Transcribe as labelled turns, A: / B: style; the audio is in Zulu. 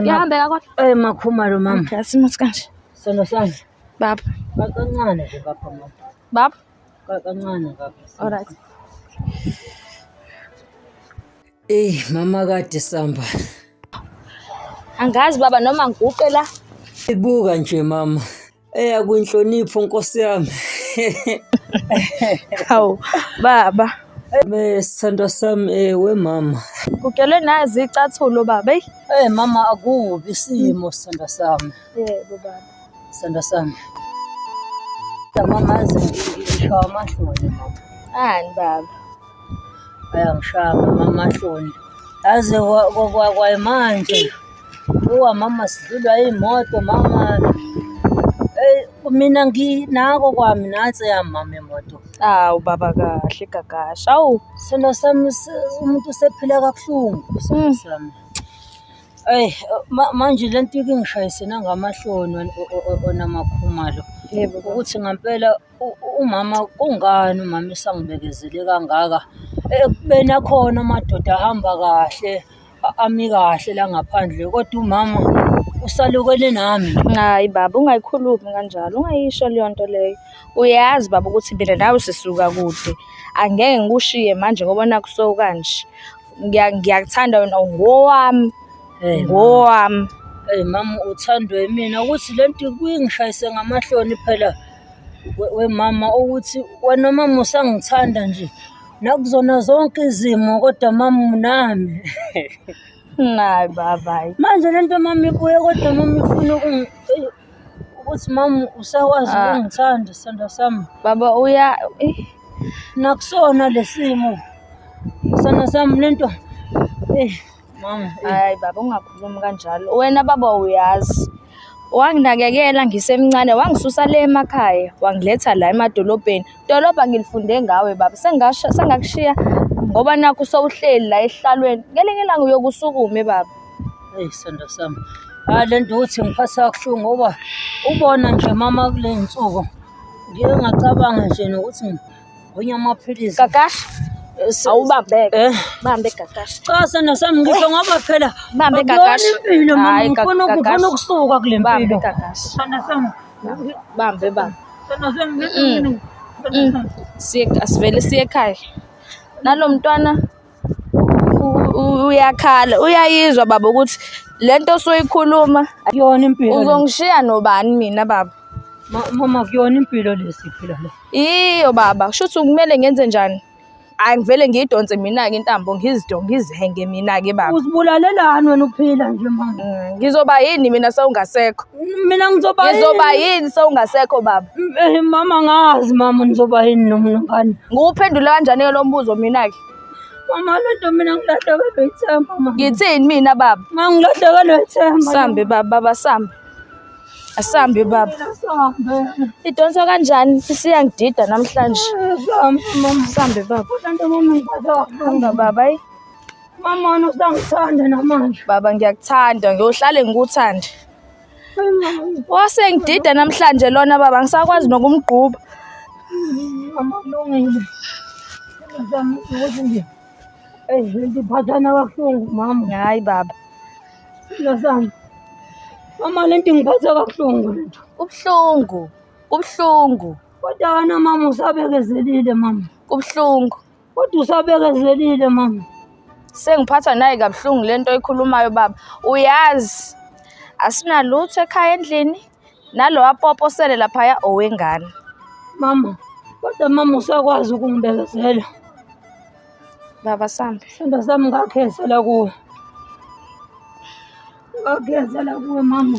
A: Ngiyahambeka
B: kodwa. Eh makhumalo mama.
C: Okay, asimuthi kanje.
B: Sono sami. Baba. Kancane
C: ke baba
B: mama.
C: Baba.
B: Kancane baba.
C: All right. Ey mama kade samba.
B: Angazi baba noma ngiguqe la. Ibuka nje
C: mama. Eya kwinhlonipho Nkosi yami.
B: Hawu baba. Me
C: sithandwa sami eh we mama. Kugelwe nazi
B: icathulo baba. Eyi. Eh mama
C: akubi isimo sithandwa sami. Yebo baba.
B: Sithandwa sami.
C: Mama aze ngisho amahloni mama. Ani baba. ayangishaya mama amahloni yazi kwayimanje uwa mama sidlulwa iy'moto mama mina nginako kwami nansi yamama imoto awu baba
B: kahle gagasha awu sona sami
C: umuntu usephila kabuhlungu sona mm. sami eyi manje le nto ikingishayisena ngamahloni onamakhumalo
B: ukuthi ngampela
C: umama kungani umama esangibekezele kangaka ekubeni akhona amadoda ahamba kahle ami kahle la ngaphandle kodwa umama usalukele nami hayi baba
B: ungayikhulumi kanjalo ungayisho leyo nto leyo uyazi baba ukuthi mina nawe sisuka kude angeke ngikushiye manje ngoba nakuso kanje ngiyakuthanda wena ngowami ngowami eyi mama
C: uthandwe yimina ukuthi le nto kuyingishayise ngamahloni phela wemama ukuthi wena mama usangithanda nje nakuzona zonke izimo kodwa mama unami
B: Nayi baba. Manje lento mama
C: ibuye kodwa mama ifuna ukuthi mama usakwazi ah. ukungithanda sithanda sami. Baba uya
B: eh.
C: nakusona lesimo. Sithanda sami lento eh Mama, hayi baba
B: ungakhulumi kanjalo. Wena baba uyazi. Wanginakekela ngisemncane, wangisusa le emakhaya, wangiletha la emadolobheni. Dolobha ngilifunde ngawe baba. Sengasho sengakushiya ngoba nakho sowuhleli la ehlalweni. Ngelinye ilanga uyokusukume baba. Hey sanda
C: sami. Hayi le nto ukuthi ngiphatha kabuhlungu ngoba ubona nje mama kule nsuku. Ngike ngacabanga nje nokuthi Wenye amaphilisi. Kakashi.
B: Awubambeke. Eh. Bambe kakashi. Cha sana sami ngisho
C: eh. ngoba phela. Bambe kakashi.
B: Impilo mama ngifuna
C: ukufuna ukusuka kule mpilo. Bambe kakashi.
B: Sana sami.
C: Bambe
B: bambe. Sana sami
C: ngifuna.
B: Siye asivele siye ekhaya. Nalo mntwana uyakhala uyayizwa baba ukuthi le nto osoyikhuluma akuyona impilo
C: uzongishiya nobani
B: mina baba mama
C: kuyona impilo lesiphila la iyo baba
B: shuthi kumele ngenze njani hayi ngivele ngiyidonse mina-ke intambo ngizido ngizihenge mina-ke baba uzibulalelani wena
C: uphila nje manje mm, ngizoba yini
B: mina sewungasekho mina ngizoba
C: ngizoba
B: yini sewungasekho baba eh, mama
C: ngazi mama ngizoba yini nomnongane ngiwuphendule kanjani-ke
B: lo mbuzo mina-ke Mama lento
C: mina ngilahlekelwe ithemba mama. Ngithini mina baba?
B: Mama ngilahlekelwe
C: ithemba. Sambe baba baba
B: sambe. Asambe baba. Sambe. Idonsa kanjani? Sisiyangidida namhlanje.
C: Sambe mama. Sambe
B: baba.
C: Lento mama ngibadwa. Hamba
B: baba.
C: Mama usangithanda namanje. Baba ngiyakuthanda,
B: ngiyohlale ngikuthande.
C: wasengidida
B: namhlanje lona baba ngisakwazi nokumgquba
C: amalungile zami ukuthi nje ngiphathana kabuhlungu mama hayi baba
B: silo
C: sami mama le nto ingiphatha kabuhlungu le nto kubuhlungu kubuhlungu
B: kodwa wena mama
C: usabekezelile mama kubuhlungu
B: Kodwa
C: usabekezelile mama. Sengiphathwa
B: naye kabuhlungu lento oyikhulumayo baba. Uyazi asinalutho ekhaya endlini nalowa popo sele laphaya owengane. Mama,
C: kodwa mama usakwazi ukungibekezela.
B: Baba sambe. Sithando sami ngakhezela
C: kuwe. Ngakhezela kuwe mama.